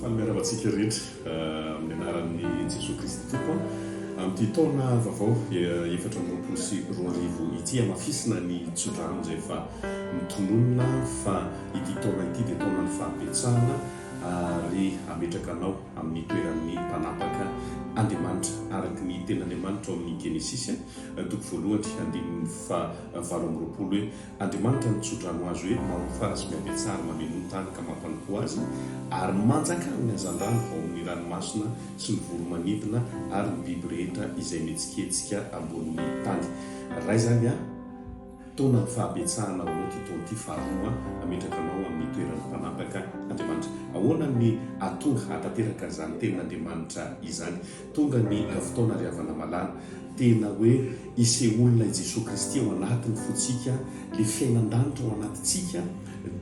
Fanimiarava antsika rehetra amin'ny anaran'i Jesoa Kristy Tompo amin'ity taona vaovao efatra amby roapolo sy roa arivo ity. Hamafisina ny tso-drano izay efa mitononona fa ity taona ity dia taonan'ny fahabetsahana ary hametraka anao amin'ny toeran'ny mpanapaka Andriamanitra araka ny tenin'Andriamanitra ao amin'ny Genesisy toko voalohany andininy fahavalo amby roapolo hoe Andriamanitra no tso-drano azo ery, mahofara sy mihabetsary, mameno ny tany ka mampanompo azy, ary manjakà ny hazandrano ao amin' ny ranomasina sy ny voro-manidina ary ny biby rehetra izay mihetsiketsika ambonin' ny tany. Raha izany an, taona ny fahabetsahana ao aminao ity taona ity faharoa hametraka anao amin' ny toeran' ny mpanapaka Andriamanitra. Ahoana ny hahatonga hahatanteraka izany tenin' Andriamanitra izany? Tonga ny fotoana ry havana malala, tena hoe ise olona i Jesoa Kristy ao anatiny fontsika, le fiainan-danitra ao anatintsika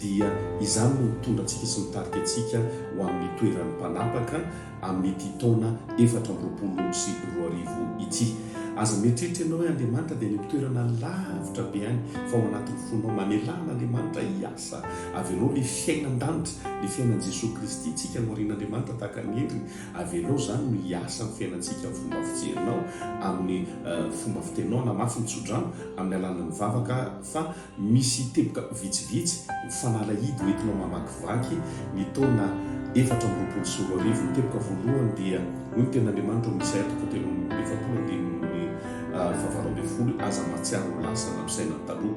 dia izany no mitondra antsika sy mitarika antsika ho amin'ny toeran'ny mpanapaka amin'ity taona efatra amby roapolo sy roa arivo ity. Aza mieritreritra ianao hoe Andriamanitra dia any amin'ny toerana lavitra be any fa ao anatin'ny fonao, manelaha an'Andriamanitra hiasa, avelao le fiainan-danitra, le fiainan'i Jesoa Kristy tsika no arian'Andriamanitra tahaka ny endriny Avelao izany no hiasa amin'ny fiainantsika amin'ny fomba fijerinao, amin'ny fomba fiteninao na mafy ny tsodrano amin'ny alalan'ny vavaka fa misy teboka vitsivitsy ho fanalahidy ho entinao mamakivaky ny taona efatra amby roapolo sy roa arivo. Ny teboka voalohany dia hoy ny Tenin'Andriamanitra ao amin'ny Isaia toko telo amby efapolo andininy fahavalo ambin'ny folo, Aza mahatsiaro ho lasa na misaina ny taloha.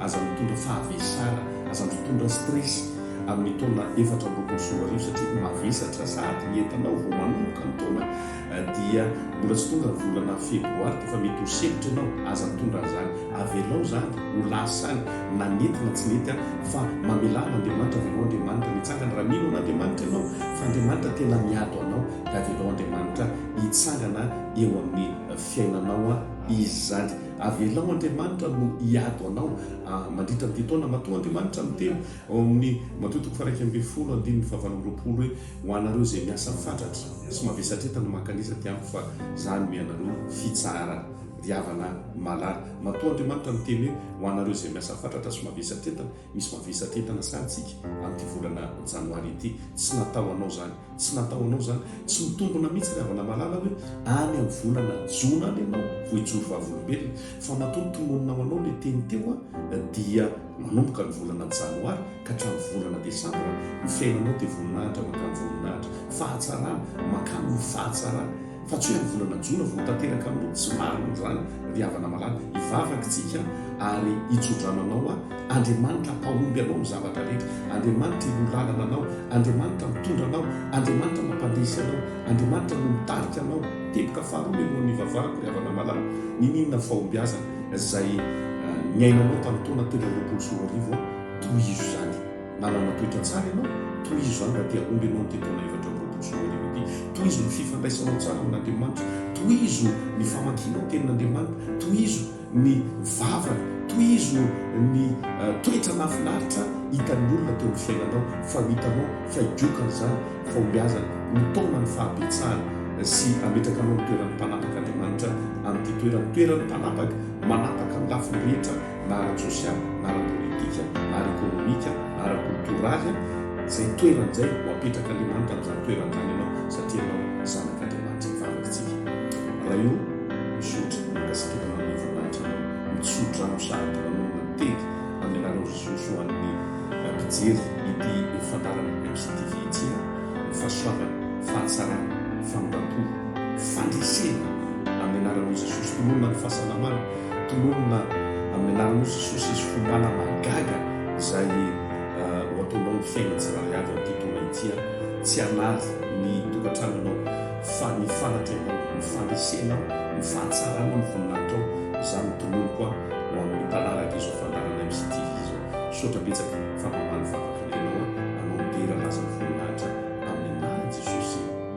Aza mitondra fahavesana, aza mitondra stress amin'ny taona efatra amby roapolo sy roa arivo satria mavesatra sahady ny entanao vao manomboka ny taona dia mbola tsy tonga ny volana febroary dia efa mety ho sempotra ianao, aza mitondra an'izany, avelao izany ho lasa any na nety na tsy nety ary fa mamelà an'Andriamanitra, avelao Andriamanitra mitsangana raha mino an'Andriamanitra ianao fa Andriamanitra tena miado anao dia avelao Andriamanitra hitsangana eo amin'ny fiainanao izy izany. Avelao Andriamanitra no hiady ho anao mandritra an'ity taona matoa Andriamanitra miteny ao amin'ny Mateo toko faha-iraika ambin'ny folo andininy fahavalo amby roapolo hoe ho anareo izay miasa fatratra sy mavesatretana mankanisa aty amiko fa za hanome anareo fitsahara ry havana malala matoa Andriamanitra miteny hoe ho anareo izay miasa fatratra sy mavesatretana Misy mavesatra entana sahy tsika amin'ity volana janoary ity. Tsy natao anao zany. Tsy natao anao zany. Tsy mitombona mihitsy ry havana malala hoe any amin'ny volana jona any ianao vao hijoro vavolombelona. Fa matoa tononina ho anao ilay teny teo an, dia manomboka ny volana janoary ka hatramin'ny volana desambra, ny fiainanao dia voninahitra mankany voninahitra. Fahatsarana mankany amin'ny fahatsarana. Fa tsy hoe amin'ny volana jona vao ho tanteraka aminao, tsy marina izany ry havana malala, hivavaka isika ary hitsodrano anao aho, Andriamanitra hampahomby anao amin'ny zavatra rehetra, Andriamanitra hiloha lalana anao, Andriamanitra mitondra anao, Andriamanitra mampandresy anao, Andriamanitra no mitarika anao. Teboka faharoa mialohan'ny hivavahako ry havana malala, Niniana fahombiazana izay niainanao tamin'ny taona telo amby roapolo sy roa arivo aho, tohizo izany. Nanana toetra tsara ianao, tohizo izany raha te hahomby ianao amin'ity taona efatra amby roapolo sy roa arivo ity. Tohizo ny fifandraisanao tsara amin'Andriamanitra, tohizo ny famakianao tenin'Andriamanitra, tohizo ny vava, tohizo ny toetra nahafinaritra hitan'ny olona teo amin'ny fiainanao, fa ho hitanao fa higiokany izany fahombiazana, mitaona ny fahabetsahany sy hametraka anao amin'ny toeran'ny mpanapaka Andriamanitra amin'ity toerany, toeran'ny mpanapaka, manapaka amin'ny lafiny rehetra na ara-tsosialy, na ara-politika, na ara-ekonomika, na ara-koltoraly, izay toerany izay, ho apetrak'Andriamanitra amin'izany toerany izany ianao, satria ianao zanak'Andriamanitra hivavaka isika. Raha io, misaotra, mankasitraka ianao amin'ny voninahitra anao, mitso-drano sahady manao miteny amin'ny anaran'i Jesosy ho an'ny mpijery ity fandaharan'ny MCTV ity aho, ny fahasoavana, fahatsarana, famindram-po, fandresena amin'ny anaran'i Jesosy, nolona ny fahasalamana, tononina amin'ny alalan'ny hosisosy sy fompana mahagaga izay ho ataonao ny fiainan'ny tsirairay avy amin'ity taona ity. Tsy hanary ny tokantranonao fa ny fanatrehanao, ny fandresenao, ny fahatsaranao no voninahitao. Izany no tononiko ho amin'ny mpanaraka izao fandaharana MCTV izao. Misaotra betsaka fa mamaly vavaka ny tenao, anao midera laza ny voninahitra amin'ny anaran'i Jesosy.